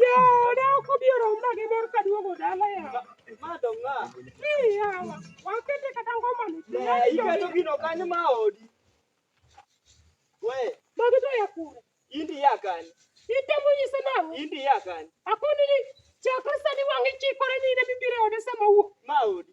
Jooda ok obi oromna gi mor ka duogo dala yawa. Ma dong ng'a? Ni yawa, wakete kata ngoma ni. Eh, iketo gino kanyo ma odi. We, Magi to ya kure. indi ya kanyo. Itemo nyise nang'o? Indi ya kanyo. Akoni ni chakre sani wang'i chikore ni in ema ibiro e ode sama owuok. Ma odi.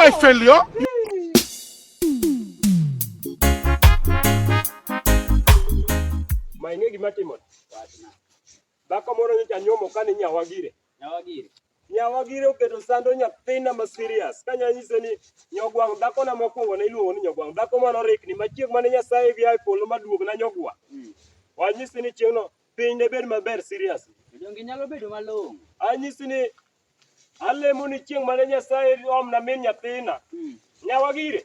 my failure. Mainge gima timo. Dhako moro nyocha nyuomo kane nyawagire. Nyawagire. Nyawa gire oketo sando nyathina ma serious. Ka nya nyise ni nyogwang dhako na mokwongo ne iluongo ni nyogwang dhako mano rikni ma chieng mane Nyasaye gi ae polo ma duog na nyogwa. Wanyisi ni chieng no piny ne bed maber serious. Donge nyalo bedo malong'o. Anyisi ni alemo ni chieng mane Nyasaye omna min nyathina. Nyawa gire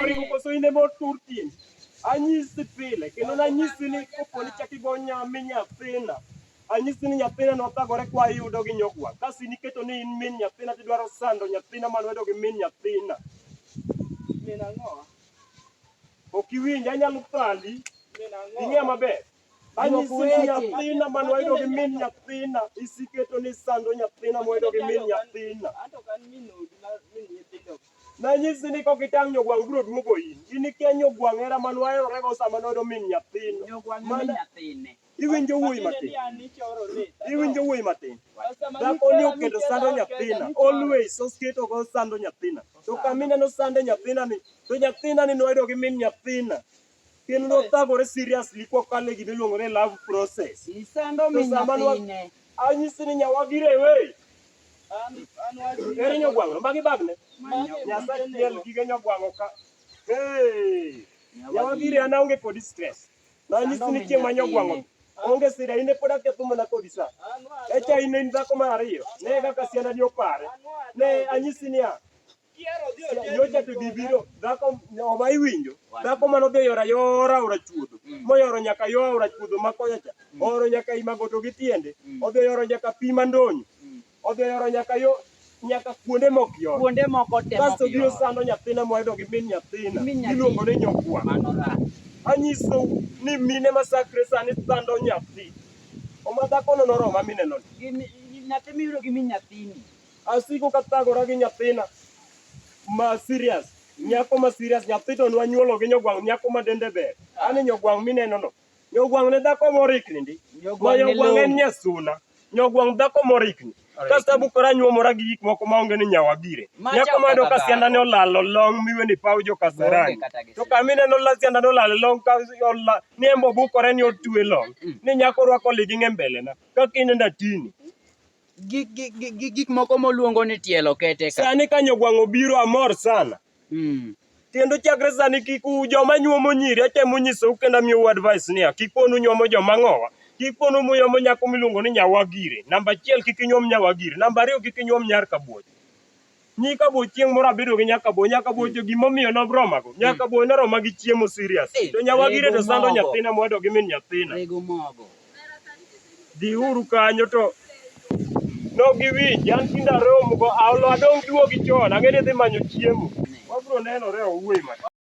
Oringo koso in ema otur tiendi. Anyisi pile kendo nanyisi ni kopo ni chak igo nyami nyathina anyisi ni nyathina nothagore kwa yudo gi nyogwa kasi niketo ni in min nyathina tidwaro sando nyathina ma lwedo gi min nyathina ok iwinj anyalo thandi ing'e maber nyathina man wayudo gi min nyathina isiketo ni sando nyathina mwayudo gi min nyathina nanyisi ni kok itang' nyogwang' biro duogo in in ikia nyogwang' hera man waherorego sama noyudo min nyathino iwinjo wuoyi matin iwinjo wuoyi matin dhako ni oketo sando nyathina always osketo go sando nyathina to kamineno sande nyathina ni to nyathina ni noyudo gi min nyathina Gin nothagore seriously kwa kale gima iluongo ni love process. Isando min nyathine. Anyisi ni nyawagi rewe. Eri nyogwang'o, magi bagne. Nyasaye tiel gige nyogwang'o ka. Hey! Nyawagi rewe ana onge kodi stress. Na anyisi ni chieng' ma nyogwang'o. Onge sida ine pod aketho mana kodi sa. Echa ine in dhako mar ariyo. Ne kaka sianda ni opare. Ne anyisi ni a. nyocha to gibiro dhako oma iwinjo dhako mane odhi oyoro ayora aora chuodho mm. moyoro nyaka yo aora chuodho ma kocha cha mm. ooro nyaka imagoto gi tiende mm. odhi oyoro nyaka pi mandonyo odhi oyoro nyaka yo nyaka kuonde mok yot kuonde moko te kasto biro sando nyathina mohedo gi min nyathina iluongo ni nyokwa anyiso ni mine masakre sani sando nyathi oma dhakono noroma mineno nyathi miyudo gi min nyathini Asiko kathagora gi nyathina ma serious nyako ma serious nyathi to nwanyuolo gi nyogwang' nyako ma dende ber ani nyogwang' mineno no nyogwang' ne dhako morikni ndi ma nyogwang' en nyasuna nyogwang' dhako morikni kasto abukora nyuomora gi gik moko maonge ni nyawa bire nyako mayudo ka sianda ne olalo long miwe ni paw jo kasarani to kama ineno la sianda ne olalo long ka ola ni embo bukore ni otwe long ni nyako rwako liging' e mbelena kaka inenda tini gi, gi, gi, gi gik moko moluongo ni tielo kete ka. Sani ka nyogwang' obiro amor sana. Mm. Kendo chakre sani kik u joma nyuomo nyiri atemo nyisou kendo amiyou advice niya kik ponu nyuomo joma ng'owa. Kik ponu muyomo nyako miluongo ni nyawagire. Namba achiel kik inyuom nyawagire. Namba ariyo kik inyuom nyar kabuoch. Nyi kabo chieng' moro abedo gi nyaka bo nyaka bo jo gimo miyo no broma go nyaka bo na roma gi chiemo serious eh, to nyawa gire to sando nyathina mwado gi min nyathina rego mogo di uru kanyo to no gi wi jan kinda romo go aolo adong duogi chon ang'e ni dhi manyo chiemo wabro nenore owuoyi ma